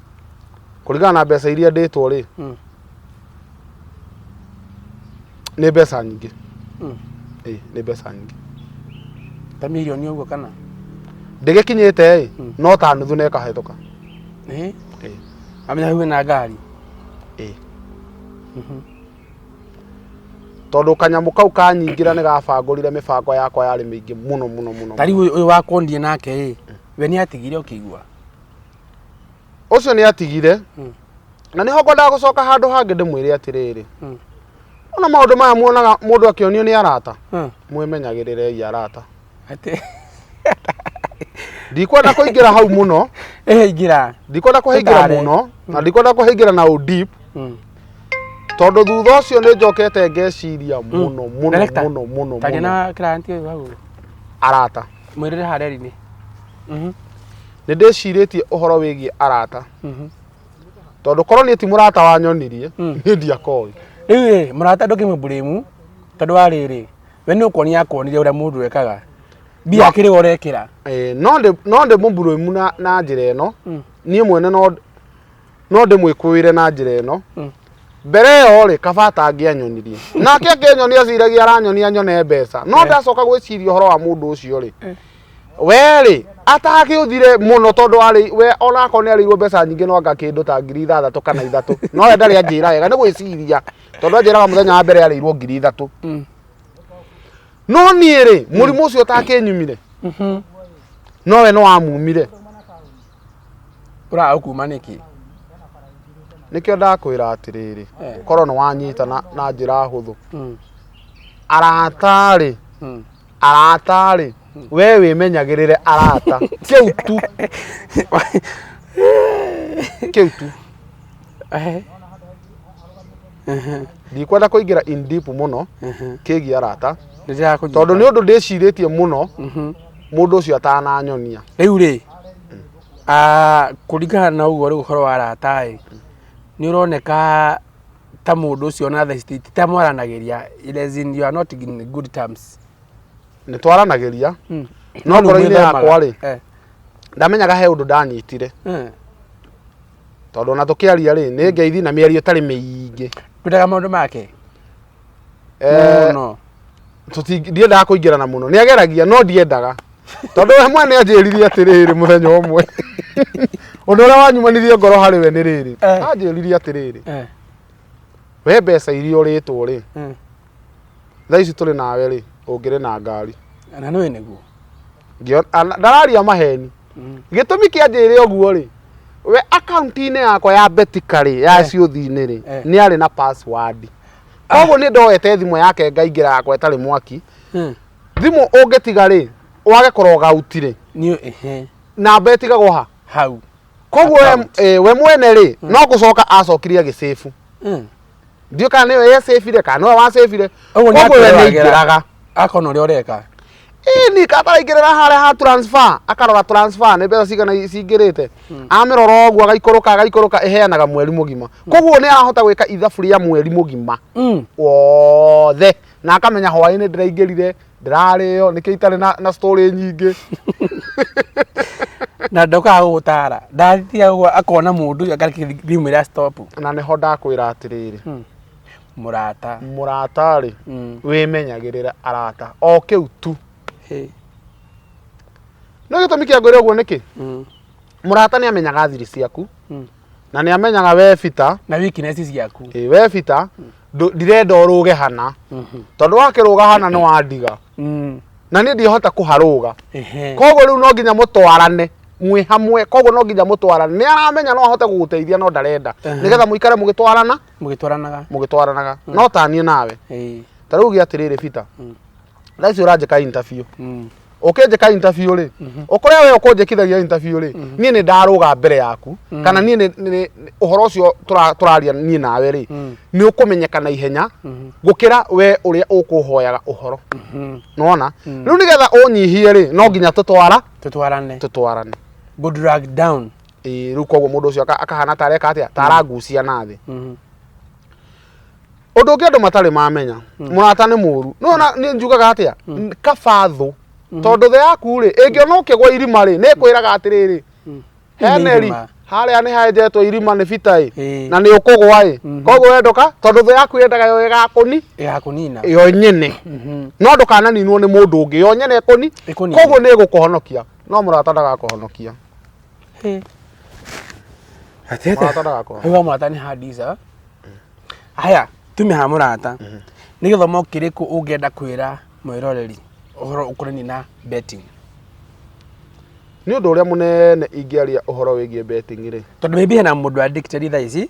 kũringana na mbeca iria ndĩtwo rĩ Mm. nĩ mbeca nyingĩ Mm. Ĩĩ, nĩ mbeca nyingĩ ta milioni ũguo kana ndĩgĩkinyĩte ĩ Mm. no ta nuthu na ĩkahĩtũka Ĩĩ. Ĩĩ, amenya hau na ngari ĩĩ. Mhm. tondũ kanyamũ kau kanyingĩra nĩ gabangũrire mĩbango yakwa yarĩ mĩingĩ mũno mũno mũno ta rĩu ũyũ- ũyũ wakondie nake ĩ we nĩ atigire ũkĩigua ũcio nĩ atigire Mm. na nĩho ngwendaga gũcoka handũ hangĩ ndĩmwĩre atĩrĩrĩ Mm. ona maũndũ maya muonaga mũndũ akĩonio nĩ arata Mm. mwĩmenyagĩrĩrei arata Atĩ- ndikwenda kũingĩra hau mũno Ehe, ingĩra ndikwenda kũhĩngĩra Ndare. mũno na ndikwenda kũhĩngĩra na ũdip Mm. tondũ thutha ũcio nĩ njokete ngeciria mũno mũno Director, mũno mũno taria mũno na client ũyũ hau arata mwĩrĩre harĩa ri-inĩ Mhm. nĩ ndĩcirĩtie ũhoro wĩgiĩ arata mhm. tondũ korwo niĩ ti mũrata wanyonirie mm. niĩ ndiakoĩ rĩu rĩ mũrata ndũkĩmwe mbũrĩmu tondũ wa rĩrĩ we nĩ ũkuonia akuonire ũrĩa mũndũ ekaga mbia akĩrĩ ũrekĩra no ndĩ mũmbũrĩmu na njĩra ĩno mm. niĩ mwene no ndĩmwĩkũĩre na njĩra ĩno mm. mbere ĩyo rĩ kabata angĩanyonirie nake akĩnyonia aciragia aranyonia nyone mbeca no eh. ndacoka gwĩciria ũhoro wa mũndũ ũcio rĩ eh. werĩ atagĩũthire mũno tondũ arĩ we onako nĩ arĩirwo mbeca nyingĩ no anga kĩndũ ta ngiri ithathatũ kana ithatũ no we ndarĩ anjĩra wega nĩ gwĩciria tondũ anjĩraga mũthenya wa mbere arĩirwo ngiri ithatũ mm. no niĩ rĩ mũrimũ ũcio ũtakĩnyumire mm-hmm. no we no wamumire ũraga kuma nĩkĩ nĩkĩo ndakwĩra atĩrĩrĩ Eh. korwo nĩ wanyita na, na njĩra hũthũ Mm, aratarĩ mm. aratarĩ we wĩmenyagĩrĩre arata kĩu tu kĩu tu Eh, ndikwenda kũingĩra in deep mũno mhm. kĩgiĩ arata Nĩndĩrakũnyita. tondũ nĩ ũndũ ndĩcirĩtie mũno Mhm. mũndũ ũcio atananyonia rĩu rĩ ah, kũringana na ũguo rĩu ũhoro wa arata ĩ nĩ ũroneka ta mũndũ ũcio na theci ti- ti ta mwaranagĩria It is in- you are not in good terms nĩ twaranagĩria Mm. No Nĩ ngoro-inĩ mwĩthemaga. yakwa rĩ. Eh, ndamenyaga he ũndũ ndanyitire eh. tondũ ona tũkĩaria rĩ nĩ ngeithi na mĩario ĩtarĩ mĩingĩ kwendaga maũndũ make Eh, mũno tũti- ndiendaga kũingĩrana mũno nĩ ageragia no ndiendaga tondũ we mwene anjĩrire atĩrĩrĩ mũthenya ũmwe ũndũ ũrĩa wanyumanirie ngoro harĩ we nĩ rĩrĩ Eh. anjĩrire atĩrĩrĩ Eh, we mbeca iria ũrĩtwo rĩ mm. thaa ici tũrĩ nawe rĩ ũngĩrĩ na ngari na nĩ nĩguo Ngĩona- ana- ndararia maheni Mm. gĩtũmi kĩa njĩre ũguo rĩ we akaunti-inĩ yakwa ya betika rĩ ya Eh. ciũthi-inĩ rĩ Eh. nĩ arĩ na password koguo nä ndoete thimå yake ngaingä yakwa ĩtarĩ mwaki Hmm. thimå å ngä tiga rä wage korogauti rä Nĩ ehe. namba ä tigagwo ha Hau. koguo we- Account. eh, we mwene rä no gå coka acokire agä cĩbu Hmm. ndiå kana nä we yecĩbire kana nä we wacĩbire Ũguo nĩ koguo we akĩroragĩra. nä ingä raga Akona ũrĩa ũreka. ini kataraingĩrĩra harĩa ha transfer akarora transfer nĩ mbeca cigana cingĩrĩte amĩrora ũguo agaikũrũka agaikũrũka ĩheanaga mweri mũgima koguo nĩ arahota gwĩka ithabu rĩa mweri mũgima Mm. wothe na akamenya hwaĩ-inĩ ndĩraingĩrire ndĩrarĩo nĩkĩo itarĩ na, na story nyingĩ na ndokaga gũgũtara ndathiaga ũguo akona mũndũ ũyũ akarĩkia thimũ ĩra stop na nĩho ndakwĩra atĩrĩrĩ mũrata mũrata rĩ Mm. wĩmenyagĩrĩra arata o kĩu tu Hey. nĩ gĩtũmi kĩa ngwĩra ũguo nĩkĩ Mm. mũrata nĩ amenyaga thiri ciaku Mm. na nĩ amenyaga we bita na weakness ciaku ĩ we bita ndũ- ndirenda ũrũge hana Mhm. tondũ wakĩrũga hana nĩ wandiga Mm. na niĩ ndihota kũharũga Ehe. koguo rĩu no nginya mũtwarane mwĩ hamwe koguo no nginya mũtwarane nĩ aramenya no ahote gũgũteithia no ndarenda Ehe. nĩgetha mũikare mũgĩtwarana mũgĩtwaranaga mũgĩtwaranaga Mm. no taniĩ nawe Ĩĩ. ta rĩu gĩa atĩrĩrĩ bita Mm. thaa ici ũranjĩka intabiũ Mm. ũkĩnjĩka intabiũ rĩ Mhm. ũkũrĩa we ũkũnjĩkithagia intabiũ rĩ Mhm. niĩ nĩ ndarũga mbere yaku Mm. kana niĩ nĩ- nĩ- nĩ- ũhoro ũcio tũra- tũraria niĩ nawe rĩ Mm. nĩ ũkũmenyeka na ihenya Mhm. gũkĩra we ũrĩa ũkũhoyaga ũhoro Mhm. nona Mm. rĩu nĩgetha ũnyihie rĩ no nginya tũtwara tũtwarane tũtwarane good drag down Ĩĩ, rĩu koguo mũndũ ũcio aka- akahana ta areka atĩa ta aragucia na thĩ Mhm. ũndũ ũngĩ andũ matarĩ mamenya mũrata nĩ mũru no na nĩ njugaga atĩa kaba thũ tondũ thĩ yaku rĩ ĩngĩona ũkĩgwa irima rĩ nĩ ĩkwĩraga atĩrĩrĩ Mm. Nĩ heneri irima. harĩa nĩ henjetwo irima nĩ bita ĩ Ĩĩ. na nĩ ũkũgwa ĩ Mhm. koguo wendoka tondũ thĩ yaku yendaga yo ĩgakũni ya kunina yo nyene Mhm. no ndũkananinwo nĩ mũndũ ũngĩ yo nyene ĩkũni Ĩkũnine. koguo nĩ ĩgũkũhonokia no mũrata ndagakũhonokia Hey. Ati ete. Mũrata ndagakũra. Hauga mũrata nĩ handica. Haya, tume ha mũrata. Nĩ gĩthomo kĩrĩkũ ũngĩenda kwĩra mwĩroreri ũhoro ũkonainie na betting? Nĩ ũndũ ũrĩa mũnene ingĩaria ũhoro wĩgiĩ betting rĩ, Tondũ maybe hena mũndũ addicted thaa ici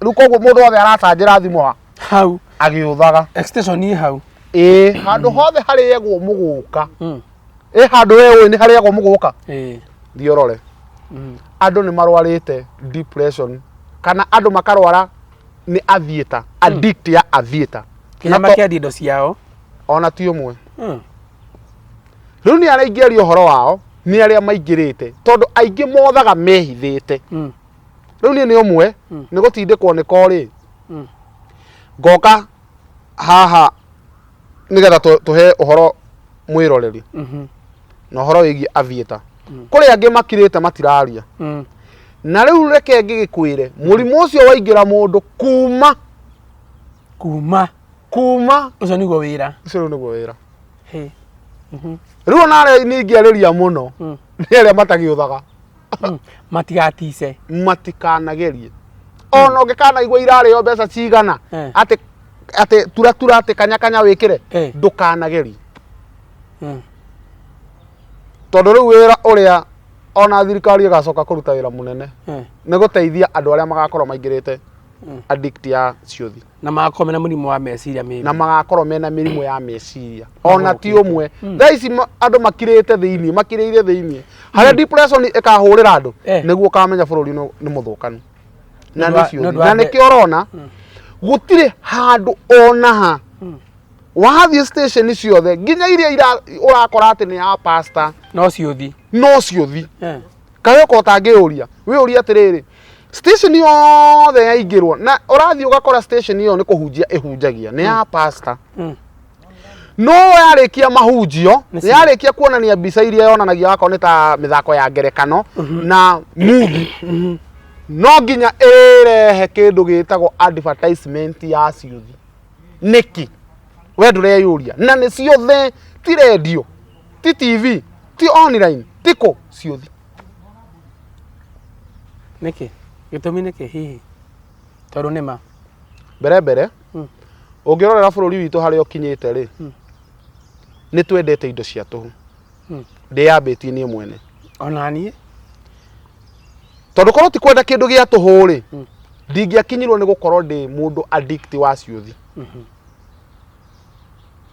rĩu koguo mũndũ wothe aracanjĩra thimũ ha hau agĩũthaga extension ĩ hau ĩĩ handũ hothe harĩagwo mũgũka Mm. ĩ handũ we ũĩ nĩ harĩagwo mũgũka Eh, thiĩ ũrore mm. andũ nĩ marwarĩte depression kana andũ makarwara nĩ athieta addict ya athieta kĩrĩa Na to- makĩendia indo ciao ona ti ũmwe Mm. rĩu nĩ araingĩria ũhoro wao nĩ arĩa maingĩrĩte tondũ aingĩ mothaga mehithĩte Mm. rĩu niĩ nĩ ũmwe Mm. nĩ gũtindĩkwo nĩ korĩ Mm. ngoka haha nĩgetha tũ- tũhe ũhoro mwĩroreri Mhm. na ũhoro wĩgiĩ avieta Mm. kũrĩ angĩ makirĩte matiraria Mm. na rĩu reke ngĩgĩkwĩre mũrimũ ũcio waingĩra mũndũ kuma kuma kuma ũcio nĩguo wĩra ũcio rĩu nĩguo wĩra Hey. Mhm. rĩu ona arĩa ningĩarĩria mũno Mm. nĩ arĩa matagĩũthaga Mm, matigatice matikanagerie ona ũngĩkanaigua irarĩo mbeca cigana Eh. atĩ atĩ turatura atĩ kanyakanya wĩkĩre Eh. ndũkanagerie Mm, tondũ rĩu wĩra ũrĩa ona thirikari ĩgacoka kũruta wĩra mũnene eh, nĩ gũteithia andũ arĩa magakorwo maingĩrĩte Mm. addict ya ciũthi na magakorwo mena mũrimũ wa meciria mĩingĩ na magakorwo mena mĩrimũ ya meciria ona ti ũmwe Mm. thaa ici ma- andũ makirĩte thĩinĩ makirĩire thĩinĩ harĩa depression ĩkahũrĩra andũ Eh. nĩguo ũkamenya bũrũri nĩ nĩ mũthũkanu na Nĩ ũndũ nĩ wa- nĩ ciũthi ũndũ wa na mbe- nĩkĩo ũrona gũtirĩ handũ ona ha Mm. wathiĩ station ciothe nginya iria ira- ũrakora atĩ nĩ ya pastor no ciũthi no ciũthi Eh. kayoka ũtangĩyũria wĩyũria atĩrĩrĩ station yothe yaingĩrwo na ũrathiĩ ũgakora station ĩyo nĩ kũhunjia ĩhunjagia nĩ ya pasta Mm. no yarĩkia mahunjio Nĩ nĩ yarĩkia kuonania mbica iria yonanagia wakorwo nĩ ta mĩthako ya ngerekano na muvi no nginya ĩrehe kĩndũ gĩtagwo advertisement ya ciũthi nĩki we ndũreyũria na nĩ ciothe ti rendio ti tv ti online ti kũ ciũthi nĩkĩ gĩtũmi nĩkĩ hihi tondũ nĩma mbere mbere Mm. ũngĩrorera bũrũri witũ harĩa ũkinyĩte rĩ Mm. nĩ twendete indo cia tũhu Mm. ndĩyambĩtie niĩ mwene ona niĩ tondũ korwo ti kwenda kĩndũ gĩa tũhũ rĩ Mm. ndingĩakinyirwo nĩ gũkorwo ndĩ mũndũ addict wa ciũthi Mhm.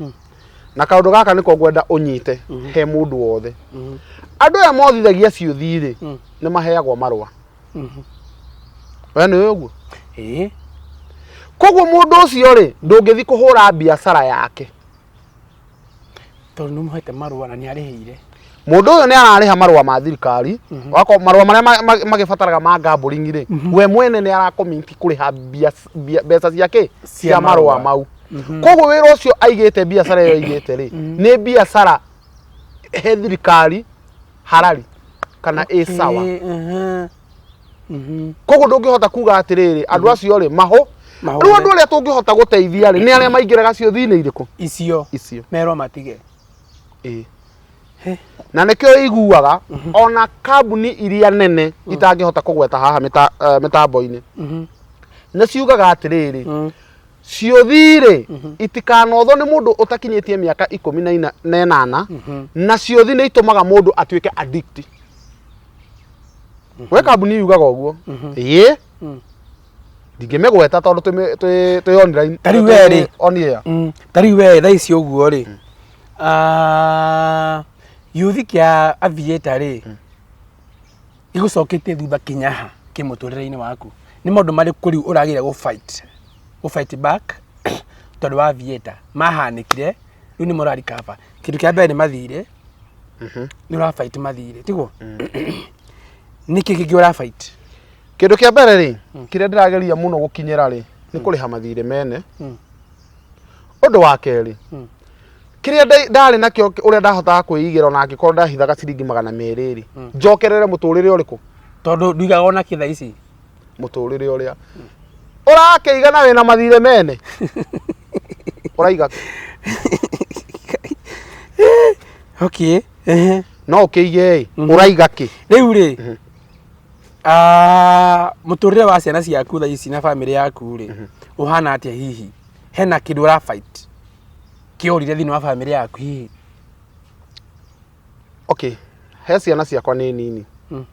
mm. na kaundu gaka niko ngwenda unyite mm. he mundu wothe mm. andu aya mothithagia ciuthi ri mm. ni maheagwo marwa mm. we ni uguo eh koguo mundu ucio ri ndungithi kuhura biacara yake tondu ni muhete marwa na ni arihire Mũndũ ũyũ nĩ ararĩha marũa ma thirikari, wako- marũa marĩa ma- ma- magĩbataraga ma gambling rĩ, we mwene nĩ arakomiti kũrĩha mbia- mbia- mbeca cia kĩ? Cia marũa mau. Koguo wĩra ũcio aigĩte biacara ĩyo aigĩte rĩ, nĩ biacara he thirikari harari kana ĩ sawa. Eh, aha. Mhm. koguo ndũngĩhota kuga atĩrĩrĩ andũ acio rĩ mahũ Mahũ. rĩu andũ arĩa tũngĩhota gũteithia rĩ nĩ arĩa maingĩraga ciũthi-inĩ irĩkũ icio icio merwo matige Ĩĩ. He. na nä kä o iguaga ona kambuni iria nene itangĩhota kũgweta haha mĩta- eh, mĩtambo-inĩ Mhm. nĩ ciugaga atä rä rä Mm. ciũthi-rĩ itikanothwo nĩ mũndũ ũtakinyĩtie mĩaka ikũmi na ina- na ĩnana Mhm. na ciũthi nĩ itũmaga mũndũ atuĩke addict we kambuni yugaga ũguo ĩĩ Mm. ndingĩmĩgweta tondũ twĩ- twĩ twĩ online Ta rĩu we rĩ. on air Mm, ta rĩu we thaa ici ũguo rĩ ah, gĩũthi kĩa avieta rĩ gĩgũcokete thutha kinyaha kĩ mũtũrĩre-inĩ waku nĩ maũndũ marĩkũ rĩu ũragĩire gũ fight gũ fight back tondũ wa avieta mahanĩkire rĩu nĩ morari kaba kĩndũ kĩa mbere nĩ mathirĩ nĩ ũra fight mathirĩ tiguo nĩkĩ kĩngĩ ũra fight kĩndũ kĩa mbere rĩ hmm. kĩrĩa ndĩrageria mũno gũkinyĩra rĩ nĩ hmm. kũrĩha mathirĩ mene hmm. ũndũ wa kerĩ kĩrĩa ndarĩ nakĩo ũrĩa ndahotaga kwĩigĩra ona angĩkorwo ndahithaga ciringi magana merĩ rĩ njokerere mũtũrĩre ũrĩkũ tondũ nduigaga ona kĩtha ici mũtũrĩre ũrĩa ũrakĩiga na wĩna mathirĩ mene ũraiga okay no ũkĩige ĩ mhm. ũraiga kĩ rĩu rĩ mhm. Ah, mũtũrĩre wa ciana ciaku thaa ici na bamĩrĩ yaku rĩ ũhana atĩa hihi hena kĩndũ ũra fight kĩorire thĩinĩ wa bamĩrĩ yaku hihi okay he ciana ciakwa nĩ nini Mm.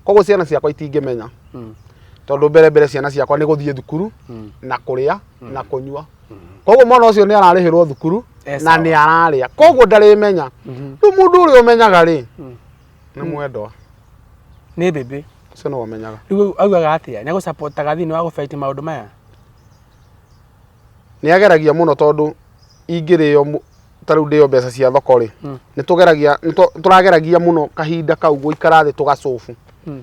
koguo ciana ciakwa itingĩmenya Mm. tondå mbere mbere ciana ciakwa nä gå thiä thukuru Mm. na kå rä a na kå nyua koguo mwana å cio nä ararä hä rwo thukuru Eh, na sawa. nä ararä a koguo ndarä menya rä u må ndå å rä a å menyaga rä nĩ mwendwa nĩ bĩbĩ ũcio nĩ wamenyaga rĩu augaga atĩa nĩ agũcapotaga thĩinĩ wa gũbaiti maũndũ maya nĩ ageragia mũno tondũ ingĩrĩo mũ- ta rĩu ndĩo mbeca cia thoko rĩ Mm. nĩ tũgeragia nĩ tũ- tũrageragia mũno kahinda kau gũikara thĩ tũgacobu Mm.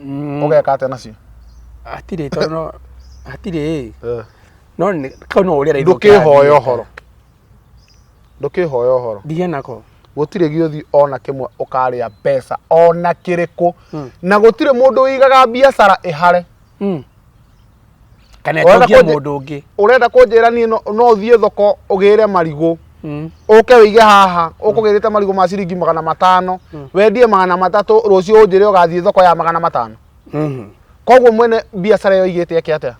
Mm, ũgeka atĩa nacio hatirĩ tondũ no- hatirĩ ĩ Eh. no nĩ- kau no ũrĩa raithĩ ndũkĩhoya ũkĩrathiĩ. ũhoro ndũkĩhoya ũhoro ndigĩa nako gũtirĩ gĩũthi ona kĩmwe ũkarĩa mbeca ona kĩrĩkũ Mm. na gũtirĩ mũndũ ũigaga biacara ĩhare Mm. kana Ũrenda ĩtongie kũnjĩ- mũndũ ũngĩ urenda kunjira ni no no uthie thoko ugire marigu Mm. uke wige haha ukugirite marigu ma ciringi magana matano wendie magana matatu rucio unjire ugathie thoko ya magana matano Mhm. koguo mwene biacara iyo igite yake atia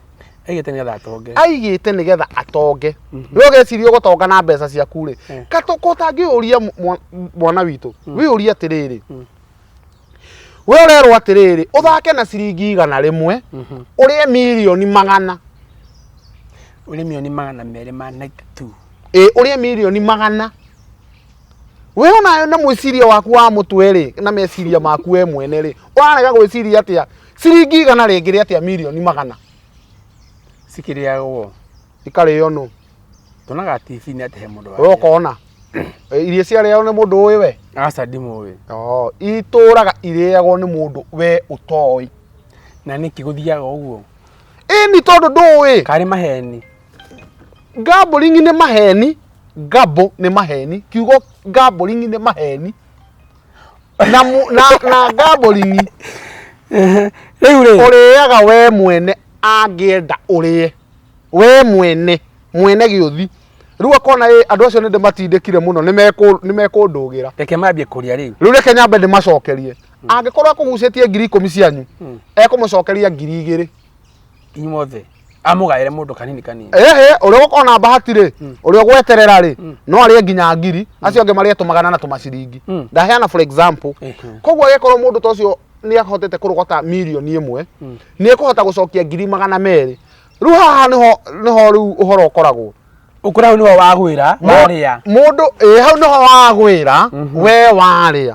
aigĩte nĩgetha atonge aigite nigetha atonge we ugeciria ugutonga na mbeca ciaku ri Mm. katuko tangiuria mwana witu wiuria atiriri we ũrerwo atĩrĩrĩ ũthake na ciringi igana rĩmwe mhm. ũrĩe mirioni magana ũrĩe mirioni magana merĩ ma night two ĩ ũrĩe mirioni magana we ona na mwĩciria waku wa mũtwe rĩ na meciria maku we mwene rĩ ũrarega gwĩciria atĩa ciringi igana rĩngĩ rĩ atĩa mirioni magana cikĩrĩagwo ikarĩo nũ tuonaga tv nĩ atĩ he mũndũ we ũkona Eh, irio ciarĩagwo nĩ mũndũ ũĩ we aca ndimũĩ Oo, itũraga irĩagwo nĩ mũndũ we ũtoĩ na nĩkĩ gũthiaga ũguo ĩni tondũ ndũĩ karĩ maheni gambling nĩ maheni gambo nĩ maheni kiugo gambling nĩ maheni na, mu- na, na gambling rĩu rĩ ũrĩaga we mwene angĩenda ũrĩe we mwene mwene gĩũthi rĩu akona ĩ andũ acio nĩ ndĩmatindĩkire mũno nĩ mekũndũgĩra reke mambie kũrĩa rĩu rĩu reke nyambe ndĩmacokerie angĩkorwo akũgucĩtie ngiri ikũmi cianyu hmm. ekũmũcokeria ngiri igĩrĩ inyuothe amũgaĩre mũndũ kanini kanini ehe ũrĩa ũgũkorwo na bahati rĩ hmm. ũrĩa ũgweterera rĩ hmm. no arĩe nginya ngiri acio angĩ marĩe tũmagana na tũmaciringi ndaheana for example koguo agĩkorwo mũndũ ta ũcio nä ahotete kå rogota mirioni ä mwe nä ekå hota gå cokia ngiri magana merä rĩu haha nĩho nĩho rĩu ũhoro ũkoragwo ũkora hau nĩho wagwĩra warĩa mũndũ ĩ hau nĩho wagwĩra we warĩa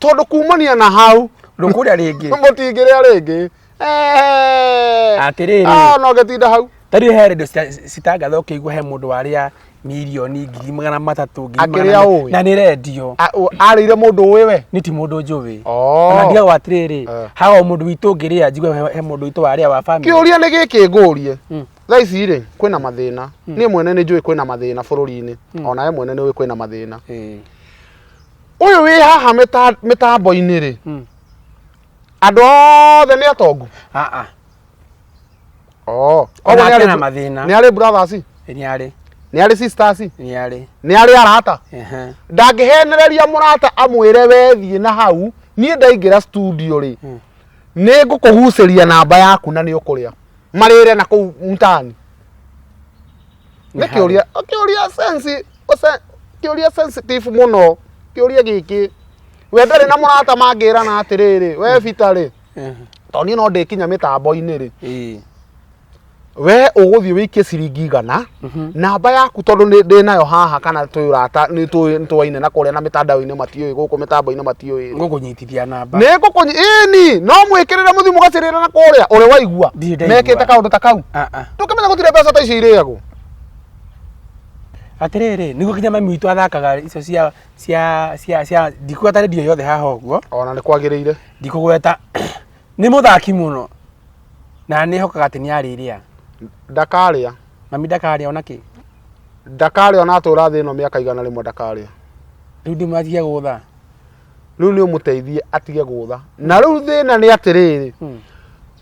tondũ kumania na hau ndũkũrĩa rĩngĩ mũtingĩrĩa rĩngĩ Atĩrĩrĩ. Ah, no ngĩtinda hau tariũ he redio cita- citangatha ũkĩigua he mũndũ warĩa mirioni ngiri magana matatũ ngiri Akĩrĩa magana me- ũĩ. na nĩ rendio A- ũ- arĩire mũndũ ũĩ we nĩ ti mũndũ njũĩ Oh. na ndigagwo atĩrĩrĩ Eh. haga mũndũ witũ ngĩrĩa njigue he- he mũndũ witũ warĩa wa family kĩũria nĩ gĩkĩ ngũrie Mm. thaa ici rĩ kwĩna mathĩna niĩ mwene nĩ njũĩ kwĩna mathĩna bũrũri-inĩ ona we mwene nĩ ũĩ kwĩna mathĩna Eh, ũyũ wĩ haha mĩta- mĩtambo-inĩ rĩ mm. andũ othe nĩ atongu ah, ah. oh koguo nĩ arĩ na mathĩna nĩ arĩ brothers nĩ arĩ nĩ arĩ sisters nĩ arĩ nĩ arĩ arata ndangĩhenereria mũrata amwĩre wethiĩ na hau niĩ ndaingĩra studio rĩ hmm. nĩ ngũkũgucĩria namba yaku na nĩ ũkũrĩa marĩre na kũu mtaani nĩ kĩũria kĩũria sensi kĩũria sensitive mũno kĩũria gĩkĩ we ndarĩ na mũrata mangĩrana atĩrĩrĩ we bitarĩ tondũ niĩ no ndĩkinya mĩtambo-inĩ rĩ Ĩĩ. we ũgũthiĩ wĩikie ciringi igana namba yaku tondũ nĩ- ndĩ nayo haha kana twĩ ũrata nĩ tũĩ- nĩ tũwaine na kũrĩa na mĩtandao-inĩ matiũĩ gũkũ mĩtambo-inĩ matiũĩ ngũkũnyitithia namba nĩ ngũkũnyi ĩni no mwĩkĩrĩre mũthiĩ mũgacĩrĩra na kũrĩa ũrĩa waigua Ndirĩ ndaigua. mekĩte kaũndũ ta kau Ah, ah. tũkĩmenya gũtirĩ mbeca ta icio irĩagwo atĩrĩrĩ nĩguo kinya mami witũ athakaga icio cia cia cia cia ndikuga ta rĩndiũ yothe haha ũguo ona nĩ kwagĩrĩire ndikũgweta nĩ mũthaki mũno na nĩ hokaga atĩ nĩ arĩrĩa ndakarĩa mami ndakarĩa ona kĩ ndakarĩa ona atũra thĩ ĩno mĩaka igana rĩmwe ndakarĩa rĩu ndĩ mwatige gũtha rĩu nĩ ũmũteithie atige gũtha na rĩu thĩna nĩ atĩrĩrĩ hmm.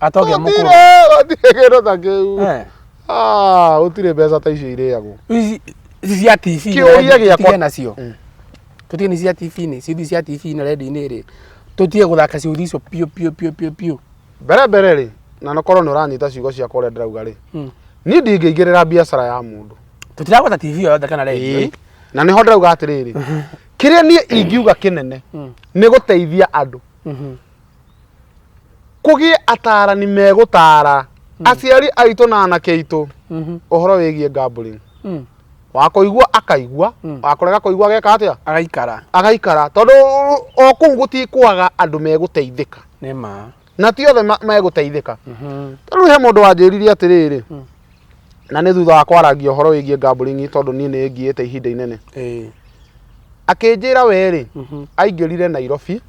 atogĩa mũkũrũ Gũtirĩ, gũtirĩ kĩndũ ta kĩu Eh, Ah, gũtirĩ mbeca ta icio irĩagwo ici ici cia tv Kĩũria gĩakwa- tũtige nacio Mm. tũtige nĩ cia tv nĩ ciũthi cia tv na redio-inĩ rĩ tũtige gũthaka ciũthi icio piũ piũ piũ piũ piũ mbere mbere rĩ na nokorwo nĩ ũranyita ciugo ciakwa ũrĩa ndĩrauga rĩ Mm. niĩ ndingĩingĩrĩra biacara ya mũndũ tũtiragweta tv yothe kana redio Ĩĩ. na nĩho ndĩrauga atĩrĩrĩ kĩrĩa niĩ ingiuga kĩnene Mm. nĩ gũteithia andũ Mhm. kũgĩe atarani megũtara mm. aciari aitũ na anake aitũ mm-hmm. ũhoro wĩgiĩ gambling mm. wakoigua akaigua mm. wakorega koigua ageka atia agaikara agaikara tondu o kuu gutikwaga andu meguteithika nima na ti othe meguteithika mm-hmm. tondu he mundu wanjiririe atiriri mm. na ni thutha wa kwaragia horo wigie gambling tondu ni ni ngiite ihinda inene akinjira weri mm-hmm. aingirire Nairobi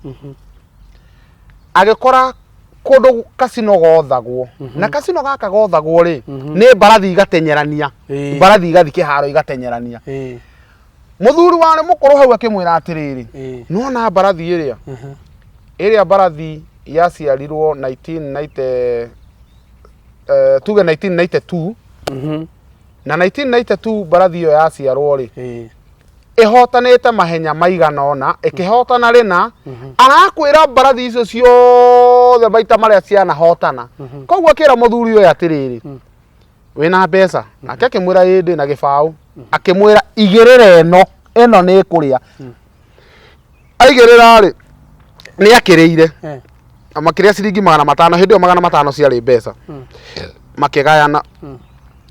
agĩkora kũndũ kasino gothagwo na kasino gaka gothagwo rĩ nĩ mbarathi igatenyerania Ĩĩ. mbarathi igathiĩ kĩharo igatenyerania Ĩĩ. mũthuri warĩ mũkũrũ hau akĩmwĩra atĩrĩrĩ Ĩĩ. nona mbarathi ĩrĩa Mhm. ĩrĩa mbarathi yaciarirwo 1990 eh, tuge 1992 Mhm. na 1992 mbarathi ĩyo yaciarwo rĩ Ĩĩ. ĩhotanĩte mahenya maigana ona ĩkĩhotana rĩna mhm. arakwĩra mbarathi icio ciothe maita marĩa cianahotana mhm. koguo akĩra mũthuri ũyũ atĩrĩrĩ mm. wĩna mbeca mhm. nake akĩmwĩra ĩndĩ na gĩbaũ akĩmwĩra igĩrĩra ĩno ĩno nĩ ĩkũrĩa mm. aigĩrĩra rĩ nĩ akĩrĩire eh. makĩrĩa ciringi magana matano hĩndĩ ĩyo magana matano ciarĩ mbeca mm. makĩgayana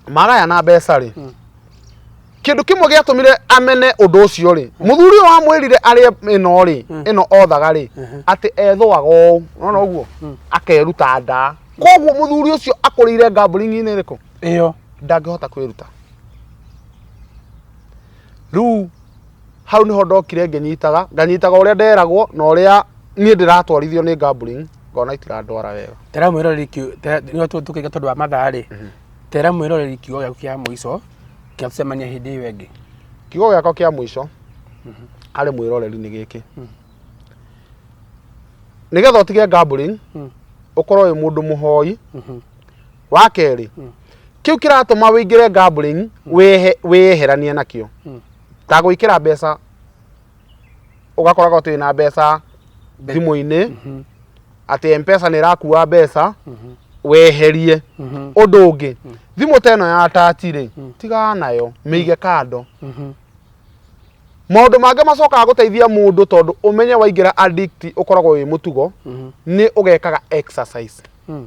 magayana mbeca rĩ kĩndũ kĩmwe gĩatũmire amene ũndũ ũcio rĩ mũthuri ũyũ wamwĩrire arĩ ĩno rĩ ĩno othaga rĩ atĩ ethũaga ũũ ũrona ũguo akeruta nda koguo mũthuri ũcio akũrĩire ngambũringi-inĩ ĩrĩkũ ĩyo ndangĩhota kwĩruta rĩu hau nĩho ndokire ngĩnyitaga nganyitaga ũrĩa nderagwo na ũrĩa niĩ ndĩratwarithio nĩ gambling ngona itirandwara wega ndĩramwĩra rĩkĩ nĩo tũkĩka tondũ wa mathaa rĩ Tera mwĩroreri kiugo gĩaku kĩa mũico kĩa tũcemania hĩndĩ ĩyo ĩngĩ. Kiugo gĩakwa kĩa mũico harĩ mwĩroreri nĩ gĩkĩ. Nĩgetha ũtige gambling, ũkorwo wĩ mũndũ mũhoi. Wa kerĩ, kĩu kĩratũma wĩingĩre gambling wĩyeheranie nakĩo. Ta gwĩkĩra mbeca ugakoraga uti na mbeca Mbe- thimu-inĩ Mhm, atĩ mpesa nĩ ĩrakua mbeca mhm, weherie mhm, ũndũ ũngĩ thimũ ta ĩno ya tati rĩ tigaa nayo mĩige kando mhm. maũndũ mangĩ macokaga gũteithia mũndũ tondũ ũmenye waingĩra addict ũkoragwo wĩ mũtugo Mhm, nĩ ũgekaga exercise mm.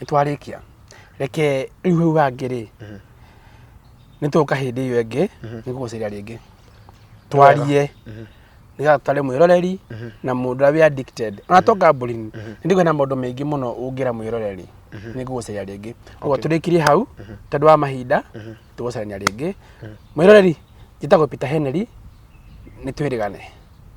nĩ twarĩkia reke rĩu hau hangĩ rĩ nĩ tũka hĩndĩ ĩyo ĩngĩ nĩ gũgũcaria rĩngĩ twarie nĩgetha tũtare mwĩroreri na mũndũ ũrĩa wĩ addicted ona to gambling nĩ ndĩgwe na maũndũ maingĩ mũno ũngĩra mwĩroreri nĩ gũgũcaria rĩngĩ ũguo tũrĩkirie hau tondũ wa mahinda tũgũcarania rĩngĩ mwĩroreri njĩtagwo Peter Henry nĩ twĩrĩgane